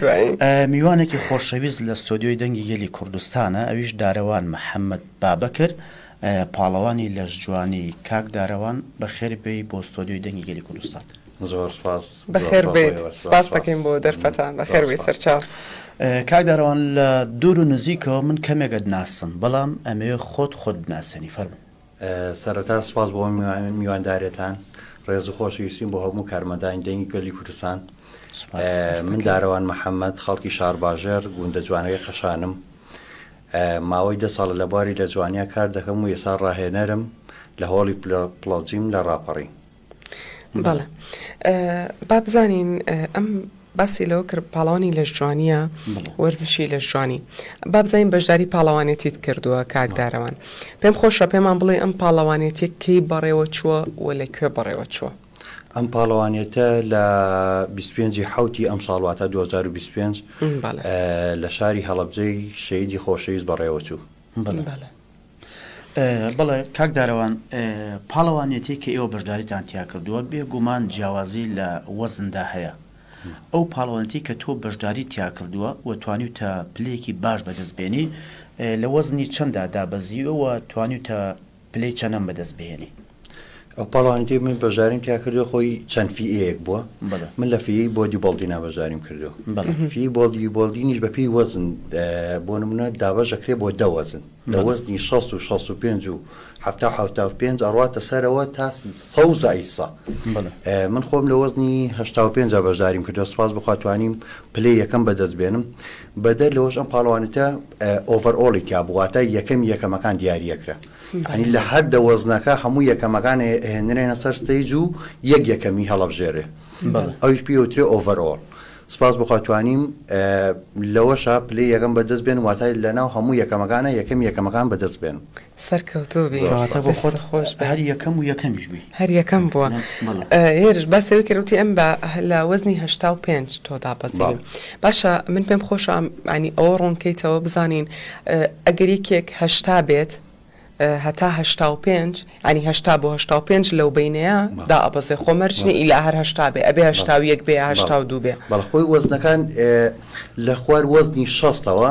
دوایی میوانێکی خۆشەویست لە ستۆدیۆی دەنگی گەلی کوردستانە ئەویش دارەوان محەمەد بابەکر پاڵەوانی لەشجوانی، کاک دارەوان بەخێر بێی بۆ ستۆدیۆی دەنگی گەلی کوردستان. زۆر سپاس. بەخێر بێیت سپاست دەکەین بۆ دەرفەتان بەخێر بێی سەرچاو. کاک دارەوان لە دوور و نزیکەوە من کەمێکت ناسم بەڵام ئەمەوێ خۆت خۆت بناسێنی فەرموو. سەرەتا سپاس بۆ میوانداریتان، ڕێز و خۆشەویستیم بۆ هەموو کارمەندانی دەنگی گەلی کوردستان. من دارەوان محەمەد، خەڵکی شارباژێڕ، گوندە جوانەکەی قەشانم. ماوەی دە ساڵە لە بواری لە جوانیا کار دەکەم و ئێستا ڕاهێنەرم لە هۆڵی پڵۆجیم لە ڕاپەڕین. بەڵێ با بزانین ئەم باسی لەوە کرد پاڵانی لەش جوانیە وەرزشی لەش جوانی بابزانین بەشداری پاڵەوانێتیت کردووە کاکدارەوان پێم خۆشە پێمان بڵێ ئەم پاڵەوانێتی کەی بەڕێوە چووە و لە کوێ بەڕێوە چووە ئەم پاڵەوانێتە لە 25 حوتی ئەم ساڵواتە 2025 لە شاری هەڵبجەی شەیدی خۆشەویست بەڕێوە چوو. بەڵێ کاک دارەوان پاڵەوانێتی کە ئێوە بەشداریتان تیا کردووە بێ گومان جیاوازی لە وەزندا هەیە ئەو پاڵەوانێتی کە تۆ بەشداری تیا کردووە و توانی تە پلەیەکی باش بەدەست بێنی لە وەزنی چەنددا دابەزیوە و توانی تە پلەی چەنەم بەدەست بێنی. ئەو پاڵەوانێتی من بەشداریم تیا کردو خۆی چەند فیەیەک بووە من لە فیی بۆدی بەڵدینا بەشداریم کردو فی بۆڵدی بۆڵدینیش بە پێی وەزن بۆ نمونە دابەشەکرێ بۆ دەوەزن لە وەزنی 6 و 65 و هەفتا حوتا و پێنج ئەڕاتە سەرەوە تا سەوزە ئیسا من خۆم لە وەزنی هشتا و پێنج بەشداریم کردو سپاس بخواتوانیم پلێ یەکەم بەدەست بێنم بەدەر لەوەش ئەم پاڵوانێتە ئۆڤەر ئۆڵی تیا بواتە یەکەم یەکەمەکان دیارەکرا یانی لە هەر دە وەزنەکە هەموو یەکەمەکان ئەهێنرێنە سەر ستەیج و یەک یەکەمی هەڵەبژێرێ ئەویش پێی ئەوترێ ئۆڤەرئۆڵ سپاس بخوا توانیم لەوەشە پلەی یەکەم بەدەست بێن واتای لەناو هەموو یەکەمەکانە یەکەم یەکەمەکان بەدەست بێن سەرکەوتوو بی کەواتە بۆ خۆت خۆش بێ. هەر یەکەم و یەکەمیش بی هەر یەکەم بووە بەڵێ. هێرش باسەوەی کە وتی ئەم بە لە وەزنی هەشتا و پێنج تۆ دابەزیوی بەڵێ. باشە من پێم خۆشە ینی ئەوە ڕوونکەیتەوە بزانین ئەگەر یەکێک هەشتا بێت هەتا هەشتا و پێنج ینی هەشتا بۆ هەشتا و پێنج لەو بینەیە دا ئەبەزێ خۆ مەرجنی ئیلا هەر هەشتا بێ ئەبێ هەشتا و یەک بێ هەشتا و دوو بێ بەڵخۆی وەزنەکان لە خوار وەزنی شەستەوە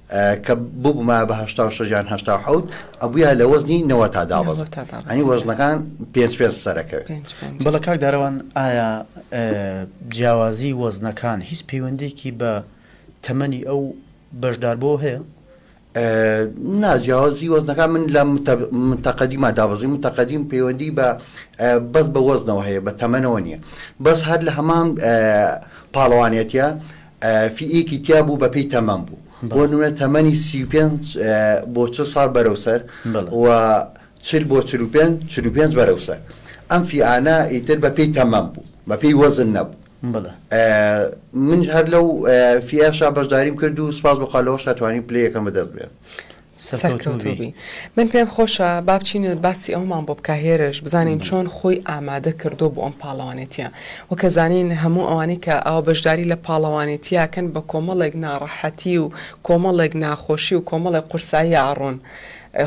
کە ببوومایە بە هەشتا و شەش یان هەشتا و حەوت ئەبوویە لە وەزنی نەوە تا دابەزم نەوە تا دابەزم. یانی وەزنەکان پێنج پێنج سەرەکەوێ پێنج پێنج. بەڵێ کاک دارەوان ئایا جیاوازی وەزنەکان هیچ پەیوەندیەکی بە تەمەنی ئەو بەشداربووە هەیە؟ نا جیاوازی وەزنەکان من لە متە- متەقەدیما دابەزی متەقەدیم پەیوەندی بە ئە، بەس بە وەزنەوە هەیە بە تەمەنەوە نییە بەس هەر لە هەمان ئە، پاڵەوانێتیە فییەکی تیا بوو بەپێی تەمەن بوو بۆ نمونە تەمەنی سی و پێنج بۆ چل ساڵ بەرەو سەر و چل بۆ چل و پێنج چل و پێنج بەرەو سەر ئەم فیانە ئیتر بەپێی تەمەن بوو بەپێی وەزن نەبوو من هەر لەو فیاشا بەشداریم کرد و سپاس بخوا لەوەشا توانیم پلەیەکەم بەدەست بێنم سەرکەوتوبی من پێم خۆشە بابچین باسی ئەومان بۆ بک هێرش بزانین چۆن خۆی ئامادە کردو بۆ ئەم پاڵەوانێتە وەکە زانین هەموو ئەوانەی کە ئەو بەشداری لە پاڵەوانێتیاکەن بە کۆمەڵێک ناڕەحەتی و کۆمەڵێک ناخۆشی و کۆمەڵێک قورسایی ئاڕۆن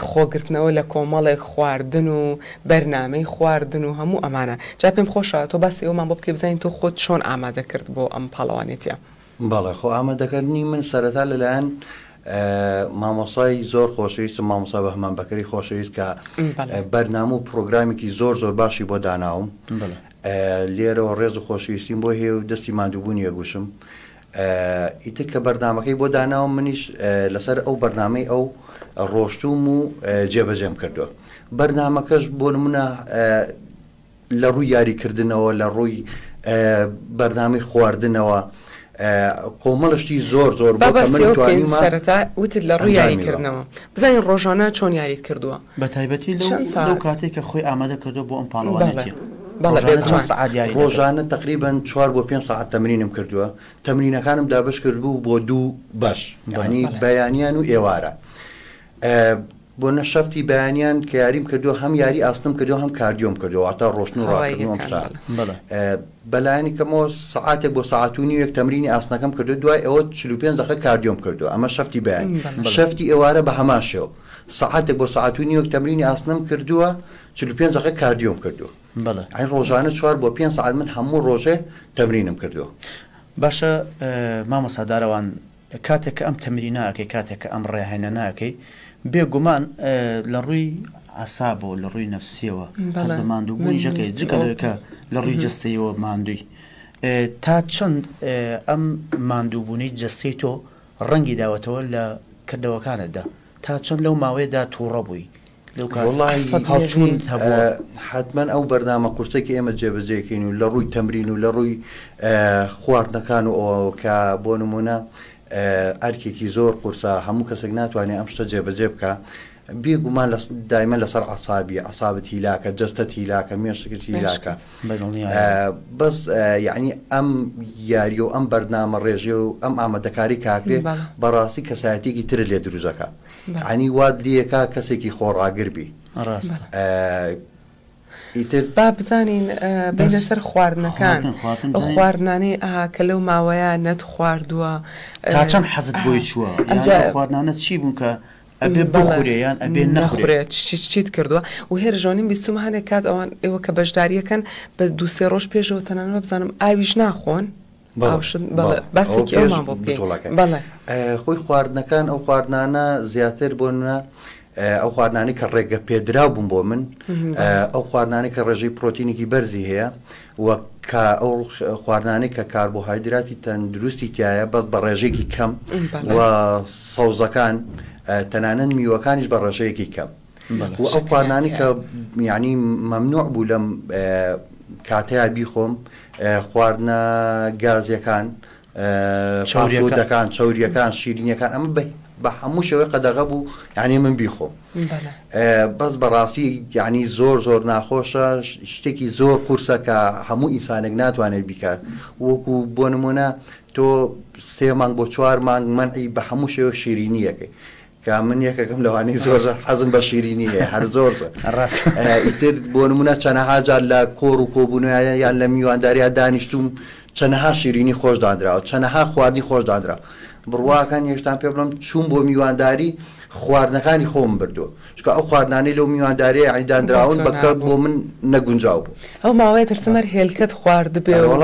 خۆگرتنەوە لە کۆمەڵێک خواردن و بەرنمەی خواردن و هەموو ئەمانە جا پێم خۆشە تۆ باسی ئەومان بۆ بکەی بزانین تۆ خۆت چۆن ئامادە کرد بۆ ئەم پاڵەوانێتە بەڵێ خۆ ئامادەکردنی من سەرەتا لەلایەن مامۆسای زۆر خۆشەویستم مامۆسا بەهمان بەکەری خۆشەویست کە بەرنامە و پرۆگرامێکی زۆر زۆر باشی بۆ داناوم لێرەوە ڕێز و خۆشویستیم بۆ هێ و دەستی مادووبوونی یەگوشم ئیتر کە بەردامەکەی بۆ داناوم منیش لەسەر ئەو بەرنمەی ئەو ڕۆشتوم و جێبەجێم کردووە بەرنمەکەش بۆ نمونە لە ڕووی یاریکردنەوە، لە ڕووی بەرنامەی خواردنەوە، کۆمەڵە شتی زۆر زۆر با باسی ئەوە بکەین سەرەتا وتت لە ڕووی یاریکردنەوە بزانین ڕۆژانە چۆن یاریت کردووە بە تایبەتی لەو کاتێک کە خۆی ئامادە کردو بۆ ئەم پاڵەوانێتی ڕۆژانە تقریبان چوار بۆ پێ ساعت تەمرینم کردووە تەمرینەکانم دابش کرد بوو بۆ دوو بەش ینی بەیانیان و ئێوارە بۆ نە شەفتی بەیانیان کە یاریم کردو هەم یاری ئاسنم کردو هەم کاردیۆم کردو واتا ڕۆشتن و ڕاکردن ئەم شتان بەلایانی کەمەوە سعاتێک بۆ ساعت و نیوێک تەمرینی ئاسنەکەم کردو دوای ئەوە 45 دقە کاردیۆم کردو ئەمە شەفتی بەیان شەفتی ئێوارە بە هەمان شێو سعاتێک بۆ ساعت و نیوێک تەمرینی ئاسنم کردووە 45 دقە کاردیۆم کردو ئەی ڕۆژانە چوار بۆ پێ ساعت من هەموو ڕۆژێ تەمرینم کردو باشە مامۆسادارەوان کاتێک کە ئەم تەمرینە ئەکەی کاتێک کە ئەم ڕاهێنانە ئەکەی بێ گومان لە ڕووی عەسابەوە لە ڕووی نەفسیەوە هەست بە ماندوو بوونی ژەکەی جگە لەوەی کە لە ڕووی جەستەیەوە ماندووی تا چەند ئەم ماندوو بوونەی جەستەی تۆ ڕەنگی داوەتەوە لە کردەوەکانتدا تا چەند لەو ماوەیەدا تووڕە بووی وەڵاهی هەڵچوون هەبووە حەتمەن ئەو بەرنامە قورسەی کە ئێمە جێبەجێکەین و لە ڕووی تەمرین و لە ڕووی خواردنەکان و ئەوەوە کە بۆ نمونە ئەرکێکی زۆر قورسە هەموو کەسێک ناتوانێت ئەم شتە جێبەجێ بکە بێگومان لە دایمە لەسەر عسابی عسابەت هیلاکە جستت هیلاکە مێشتەکەت هیلاکە بەس یعنی ئەم یاری و ئەم بەرنامە ڕێژێ و ئەم ئامادەکاری کاکرێ بەڕاستی کەسایەتێکی ترە لێ دروزەکە یەعنی وات لیەکا کەسێکی خۆڕاگر بی ئیتر با بزانین بینە سەر خواردنەکان ئەو خواردنانەی ئەها کە لەو ماوەیە نەت خواردووە تا چەند حەزت بۆی چووە ئەمجا خواردنانە چی بوون کە ئەبێ بەڵێیان ئەبێ نەخورێت چیت کردووە و هێرژۆنیم بیستم هەنێک کات ئەوان ئێوە کە بەشداریەکەن بە دووسێ ڕۆژ پێشەوە تەنانە بزانم ئاویش ناخۆن خۆی خواردنەکان ئەو خواردنانە زیاتر بۆنە ئەو خواردنانی کە ڕێگە پێدرا بووم بۆ من ئەو خواردنانی کە ڕێژەی پرۆتینێکی بەرزی هەیە وەک کە ئەو خواردانەی کە کاربۆهایدراتی تەندروستی تایە بەس بە ڕێژێکی کەم و سەوزەکان تەنانەت میوەکانیش بە ڕێژەیەکی کەم و ئەو خواردنانی کە یعنی مەمنوع بوو لەم کاتەیە بیخۆم خواردنە گازیەکان چاوریەکان چوریەکان شیرینیەکان ئەمە بە هەموو شێوەی قەدەغە بوو یعنی من بیخۆم بەس بەڕاستی یعنی زۆر زۆر ناخۆشە شتێکی زۆر قورسە کە هەموو ئینسانێک ناتوانێت بیکات وەکو بۆ نمونە تۆ سێ مانگ بۆ چوار مانگ منعی بە هەموو شێوە شیرینیەکەی کە من یەکەکەم لەوانەی زۆر زۆر حەزم بە شیرینی هەیە هەر زۆر زۆر ڕاست ئیتر بۆ نمونە چەنەها جار لە کۆڕ و کۆبوونیان یان لە میوانداریا دانیشتوم چەنەها شیرینی خۆش دانراوە چەنەها خواردنی خۆش دانرا بڕواکان هێشتان پێ بڵم چوون بۆ میوانداری خواردنەکانی خۆم بردو چکە ئەو خواردنانەی لەو میوانداریە عیداندراون بەکە بۆ من نەگونجاو بوو ئەو ماوەیە پرسمەر هێلکەت خواردبێ وڵ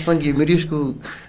سنگی مریشک و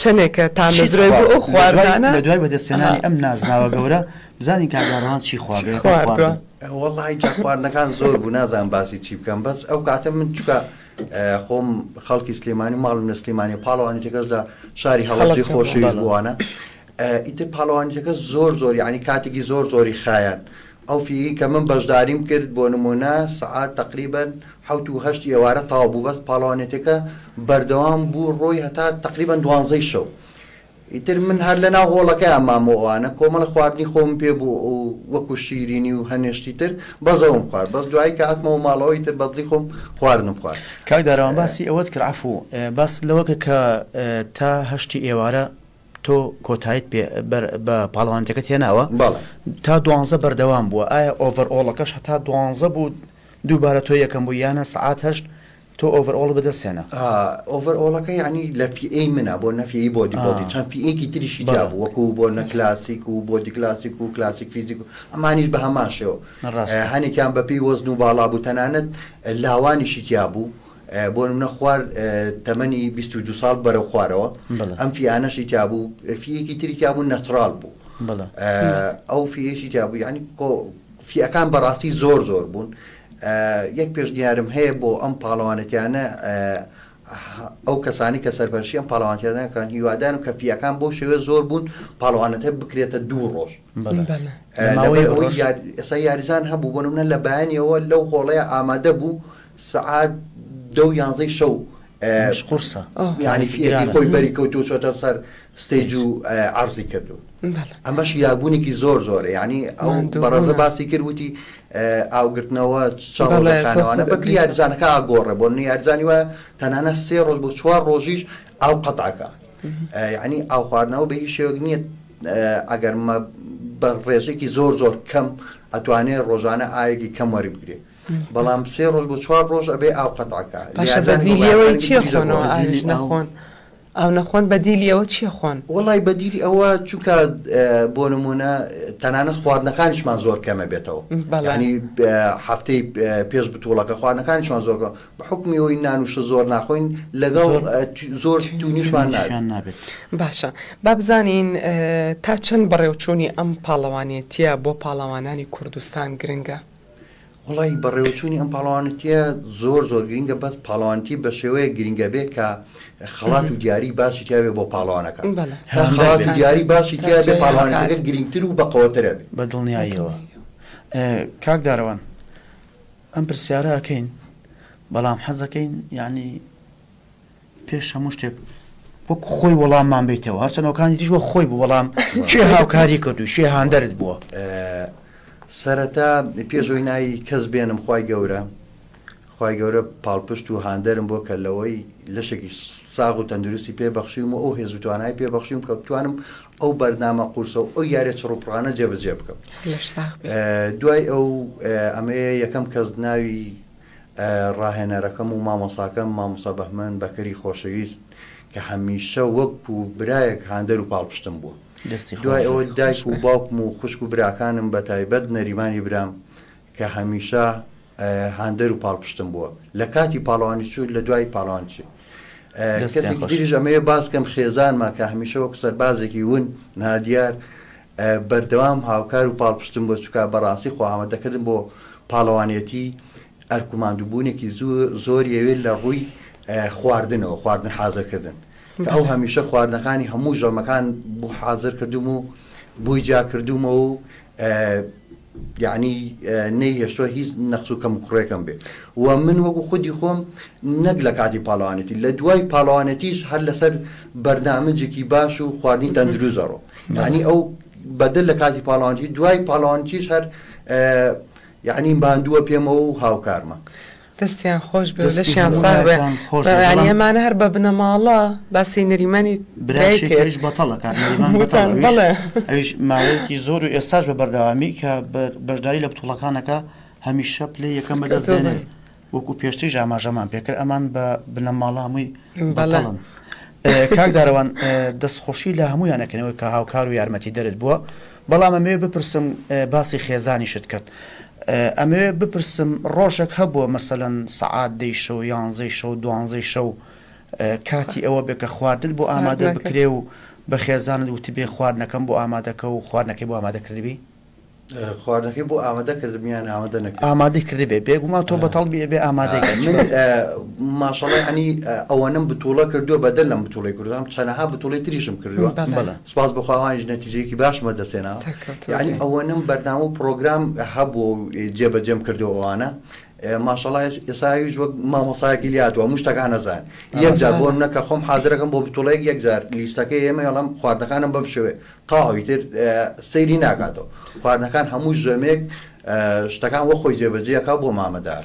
چەنێکە تامەزرۆی بۆ ئەو خواردنانە. لە دوای بەدەستهێنانی ئەم نازناوە گەورە، بزانین کاک دارەوان چی خواردووە. وەڵڵا هی جا خواردنەکان زۆر بوو نازانم باسی چی بکەم بەس ئەو کاتە من چکە خۆم خەڵکی سلێمانی ماڵم لە سلێمانی پاڵەوانیتەکەش لە شاری هەڵەجی خۆشەویست بووانە ئیتر پاڵەوانیتەکە زۆر زۆر یعنی کاتێکی زۆر زۆری خایەن ئەو فیی کە من بەشداریم کرد بۆ نموونە سەعات تەقریبەن حەوت و هەشت ئێوارە تەواو بوو بەس پاڵەوانێتیەکە بەردەوام بوو ڕۆی هەتا تەقریبەن دوانزەی شەو ئیتر من هەر لە ناو هۆڵەکەیان مام و ئەوانە کۆمەڵە خواردنی خۆم پێ بوو و وەکو شیرینی و هەنێشتی تر بەزەوم خوارد بەس دوایی کە هاتمەوە ماڵەوە ئیتر بەدڵی خۆم خواردنم خوارد. کاک دارەوان باسی ئەوەت کرد عەفوو باست لەوە کە کە تا هەشتی ئێوارە تۆ کۆتایت پێ بە پاڵەوانێتەکەت هێناوە تا دوانزە بەردەوام بووە ئایا ئۆڤەرئۆڵەکەش هەتا دوانزە بوو دووبارە تۆ یەکەم بوو یانە سعات هەشت تۆ ئۆڤەرئۆڵ بەدەستێنە ئۆڤەرئۆڵەکە ینی لە فیئەی منە بۆ نەفیی بۆ دیبۆتی چەند فیەکی تریشی دا بوو وەکو بۆ نە کلاسیک و بۆ دیکلاسیک و کلاسیک فیزیک و ئەمانیش بە هەماشەوە هەنێکیان بەپی وەزن و باڵا بوو تەنانەت لاوانیشی تیا بوو بۆ نمونە خوار تەمەنی بیست و دوو ساڵ بەرەو خوارەوە بەڵێ. ئەم فیانەشی تیابوو فیەکی تری تیابوو نەچڕال بوو بەڵێ. ئە، ئەو فیەشی تیابوو یعنی کۆ فیەکان بەڕاستی زۆر زۆر بوون ئە، یەک پێشنیارم هەیە بۆ ئەم پاڵەوانێتیانە ئە، هە، ئەو کەسانی کە سەرپەرشتی ئەم پاڵەوانێتیانە دەکەن هیوادارم کە فیەکان بەو شێوەیە زۆر بوون پاڵەوانێتە بکرێتە دوو ڕۆژ ئێسا یاریزان هەبوو بۆ منە لە بەیانەوە لەو هۆڵەیە ئامادە بوو سعات دە و یانزەی شەو قرسە ینی فیرانی خۆی بەری کەوت و چۆتە سەر ستەیج و عرضی کردو ئەمەش یاگونێکی زۆر زۆرە ینی ئەو بەڕێزە باسی کردوتی ئاوگرتنەوە چاڵەکانوانە بە یاریزانەکە ئاگۆڕە بۆ نیارزانی وە تەنانە سێ ڕۆژ بۆ چوار ڕۆژیش ئاو قەتعەکە ینی ئاو خواردنەوە بە هیچ شێوەک نییە ئەگەر مە بە ڕێژێکی زۆر زۆر کەم ئەتوانێت ڕۆژانە ئاوێکی کەم وەری بگرێت بەڵام سێ ڕۆژ بۆ چوار ڕۆژ ئەبێ ئاو قەتعکە لێوەی چی خۆنەوە ئاویش نەخۆن ئەو نەخۆن بەدیلی ئەوە چیە خۆن وڵی بەدیلی ئەوە چونکە بۆ نمونە تەنانەت خواردنەکانیشمان زۆر کەمە بێتەوە بەڵانی هەفتەی پێش بتوڵەکە خواردنەکانیشمان زۆر بە حوکمی ئەوەی نان و شە زۆر ناخۆین لەگەڵ زۆر تونیشمان نابێت باشە با بزانین تا چەند بەڕێوچوونی ئەم پاڵەوانێتیە بۆ پاڵەوانانی کوردستان گرنگە وڵی بەڕێوچوونی ئەم پاڵەوانەتە زۆر زۆر گرنگە بەس پاڵەوانتی بە شێوەیە گرنگە بێ کە خەڵات و دیاری باشی تیاێ بۆ پاڵەوانەکە خەڵات و دیاری باشی تیاێ پاڵانەکە گرنگتر و بەقەوەترە بە دڵنیاییەوە کاکدارەوان ئەم پرسیارە ئەکەین بەڵام حەزەکەین یانی پێش هەموو شتێک وەک خۆی وەڵاممان بیتەوە هەرچەنەوەکانی دیش وە خۆی بوو وەڵام چێ هاوکاری کرد و شێ هاندەرت بووە سەرەتا پێشۆی ناوی کەس بێنم خی گەورە خی گەورە پاڵپشت و هاندەرم بۆ کە لەوەی لەشێکی ساغ و تەندروستی پێبەخشیم و ئەو هێز و توانای پێبەخشیم کە بتوانم ئەو بەرنامە قورسە و ئەو یارە چڕوپڕانە جێبەجێ بکەم دوای ئەو ئەمەیە یەکەم کەس ناوی ڕاهێنەرەکەم و مامۆساکەم مامۆسا بەهمەن بەکەری خۆشەویست کە هەمیشە وەک و برایەک هاندەر و پاڵپشتم بووە دوای ئەوە دایک و باوکم و خوشک و براکانم بە تایبەت نەریمانی برام کە هەمیشە هاندەر و پاڵپشتم بووە لە کاتی پاڵەوانی چوو لە دوای پاڵەوان چی کەسێکی دیریش ئەمەیە باسکەم خێزانمان کە هەمیشە وەک سەربازێکی ون نادیار بەردەوام هاوکار و پاڵپشتم بۆ چکا بەڕاستی خواهمە دەکردم بۆ پاڵەوانێتی ئەرکوماندوبوونێکی زۆر یەوێت لە ڕووی خواردنەوە خواردن حازرکردن ئەو هەمیشە خواردنەکانی هەموو ژەمەکان بوو حازر کردوم و بووی جا کردومەوە و یەعنی نەیهێشتووە هیچ نەقس و کەموکوڕێکم بێ و من وەکو خودی خۆم نەک لە کاتی پاڵەوانێتی لە دوای پاڵەوانێتیش هەر لەسەر بەرنامەجێکی باش و خواردنی تەندروست دەڕۆ یعنی ئەو بەدل لە کاتی پاڵەوانتی دوای پاڵەوانتیش هەر یعنی ماندووە پێمەوە و هاوکارمە دەستیان خۆش بێ و دەستی لەشیان هەموو ساغ بێ لایەکان خۆش بێ، بەڵام- بەیانی ئەمانە هەر بە بنەماڵە باسی نەریمانی برا دایکت. شێکەریش بەتەڵە کاک نەریمان بەتەڵە وتان، ئەویش- بەڵێ. ئەویش ماوەیەکی زۆر و ئێستاش بە بەردەوامی کە بە- بەشداری لە بتوڵەکانەکە هەمیشە پلەی یەکەم بەدەست سەرکەوتوو دێنێ بن. وەکو پێشتریش ئاماژەمان پێکرد ئەمان بە بنەماڵە هەمووی بەڵێ. بەتەڵن اه، کاک دارەوان اه، دەستخۆشی لە هەموویانەکەنەوەی کە هاوکار و یارمەتی دەرت بووە بەڵام ئەمەوێ بپرسم باسی خێزانیشت کرد ئەمەوێ بپرسم ڕۆژەک هەبووە مەسەەن سەعات دەی شەو یانزەی شەو دوانزەی شەو کاتی ئەوە بێ کە خواردن بۆ ئامادە بکرێ و بە خێزانت وتی بێ خواردنەکەم بۆ ئامادەکە و خواردنەکەی بۆ ئامادە کردبی خواردنەکەی بۆ ئامادە کردمیان ئامادە نەکە ئامادە کردبێ بێگومان تۆ بەتەڵ بێ ئامادە ماشەڵی هەنی ئەوەنم بتوڵە کردووە بەدەل لەم بتوڵی کردم چەنەها بتوڵی تریشم کردووە بەڵە سپاس بۆ خوا ئەوانیش نەتیجەیەکی باشم بەدەستهێنا سەرکەوتوو یانی بن. ئەوەنەم بەرنامە و پرۆگرام هەبوو و جێبەجێم کردو ئەوانە ئێ، ماشەڵا ئێس- ئێسایش وەک مامۆسایەکی لاتوە مشتەکان نەزان یەکجار بۆ من نەکە خۆم حازرەکەم بۆ بتوڵەیەک یەکجار لیستەکەی ئێمە ئەڵەم خواردنەکانم بەم شێوێ تاوی تر ئێ، سەیری ناکاتەوە خواردنەکان هەموو ژەمێک ئێ، شتەکان وەخۆی جێبەجێ ئەکا بۆ مامەدار.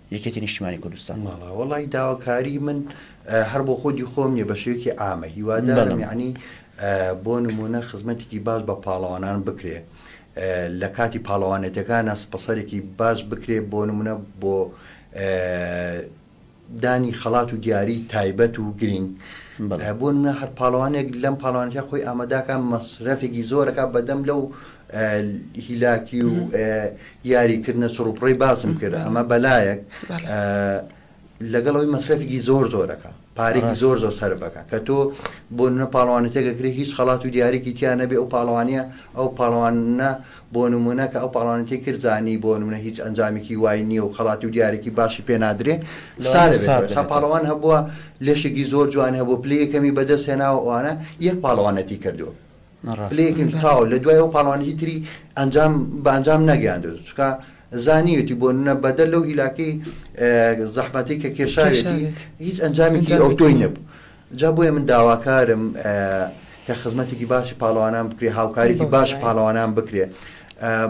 یەکێتی نیشتیمانی کوردستان. ماڵا وەڵای داواکاری من هەر بۆ خۆدی خۆم نیە بەشێوەکی ئامە هیوادارم یعنی بۆ نمونە خزمەتێکی باش بە پاڵەوانان بکرێ لە کاتی پاڵەوانێتەکانە سپەسەرێکی باش بکرێ بۆ نمونە بۆ دانی خەڵات و دیاری تایبەت و گرنگ بۆ منە هەر پاڵوانێک لەم پاڵوانەتە خۆی ئاماداکە مەسرەفێکی زۆرەکە بەدەم لەو هیلاکی و یاری کردنە چڕوپڕی باسم کرد ئەمە بەلایەک لەگەڵ ئەوی مەسرەفێکی زۆر زۆرەکە پارێکی زۆر زۆر سەرفەکە کە تۆ بۆ نە پاڵوانی تێگەکرێت هیچ خەڵات و دیارێکی تیا نەبێ ئەو پاڵوانە ئەو پاڵوانە بۆ نمونە کە ئەو پاڵوانەتی کردزانی بۆ نمونە هیچ ئەنجامێکی وای نییە و خەڵات و دیارێکی باشی پێ نادرێ سا پاڵوان هەبووە لەشێکی زۆر جوان هەبوو پلەیەکەمی بەدەست هێناوە ئەوانە یەک پاڵوانەتی کردووە پلەیەکیم تاو لە دوای ئەو پاڵەوانی هی تری ئەنجام بە ئەنجام نەگەیاندێت چکە زانیوێتی بۆ نە بەدەر لەو هیلاکەی زەحمەتی کە کێشاوێتی هیچ ئەنجامێکی ئەو تۆی نەبوو جا بۆیە من داواکارم کە خزمەتێکی باشی پاڵەوانان بکرێ هاوکاریکی باش پاڵەوانان بکرێ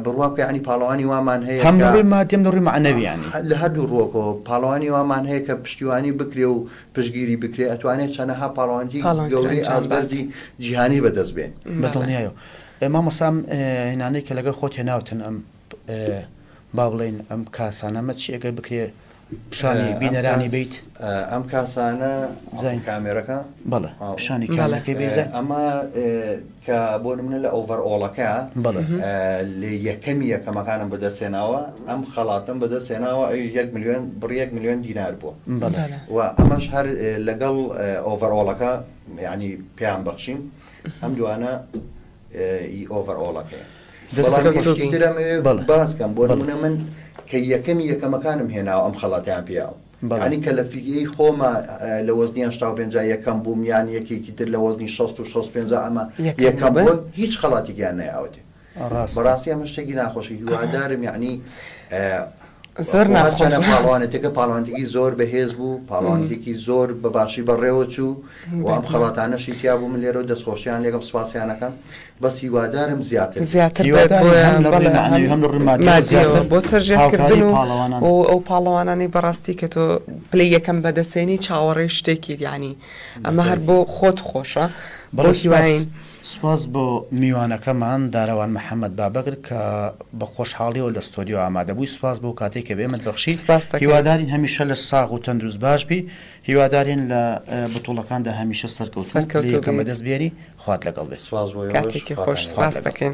بڕوا بکە ینی پاڵەوانی وامان هەیە هەم لەڕووی مادیم لەڕووی معنەویانی لە هەردوو ڕۆکەوە پاڵەوانی وامان هەیە کە پشتیوانی بکرێ و پشتگیری بکرێت ئەتوانێت چەنەها پاڵەوانێتی پاڵەوانێتی گەورەی ئەنجام بات. ئازبەرزی جیهانی بەدەست بێن بە دڵنیایە و ئێ مامۆستا ئەم ئێ هێنانەی کە لەگەڵ خۆت هێناوتن ئەم ئێ با بڵێین ئەم کاسانە ئەمە چی ئەگەر بکرێ پیشانی ئەم بینەرانی کاس- بیت ئە، ئەم کاسانە بزانین. کامێرەکە بەڵێ آه. پیشانی بەڵێ. کامێرەکەی بیت ئێ، ئەمە ئێ، کە بۆ نمونە لە ئۆڤەر ئۆڵەکە لە یەکەمی یەکەمەکانم بەدەست هێناوە ئەم خەڵاتم بەدەست هێناوە ئەوی یەک ملیۆن بڕیەک ملیۆن دینار بووە و ئەمەش هەر لەگەڵ ئۆڤەر ئۆڵەکە ینی پێیان بەخشیم ئەم دوانە ئۆڤەر ئۆڵەکەیە باسکەم بۆ نمونە من کە یەکەمی یەکەمەکانم هێناوە ئەم خەڵاتیان پیاوە یانی کە لە فیلیەی خۆما لە وەزنی هەشتا و پێنجا یەکەم بووم یان یەکێکی تر لە وەزنی شەست و شەست و پێنجا ئەمە یەکەم بوون هیچ خەڵاتێکیان نەیاوەتێ بەڕاستی ئەمە شتێکی ناخۆشە هیوادارم یعنی زۆر ناچەنە پاڵوانێتەکە پاڵوانێکی زۆر بەهێز بوو پاڵوانێکی زۆر بە باشی بەڕێوە چوو وام خەڵاتانەشی تیا بوو من لێرە و دەستخۆشیان لێگەم سپاسیانەکەم بەس هیوادارم زیاتر زیاتر بێت بۆیان بەڵێ بۆ تەرژێکردن و ئەو پاڵەوانانی بەڕاستی کە تۆ پلی یەکەم بەدەسێنی چاوەڕێ شتێکی دیانی ئەمە هەر بۆ خۆت خۆشە بەڕسیواین. سپاس بۆ میوانەکەمان دارەوان محەممەد بابەگر کە بە خۆشحاڵیەوە لە ستۆدیۆ ئامادەبووی سپاس بۆ کاتێک کە بێمت بەخشی سپاس هیوادارین هەمیشە لە ساغ و تەندروست باش بی هیوادارین لە بتوڵەکاندا هەمیشە سەرکەوت سەرکەوتەکەمە دەست بێری خوات لەگەڵ بێت سوپاس بۆ ئێوەش کاتێکی خۆش سوپاس دەکەین.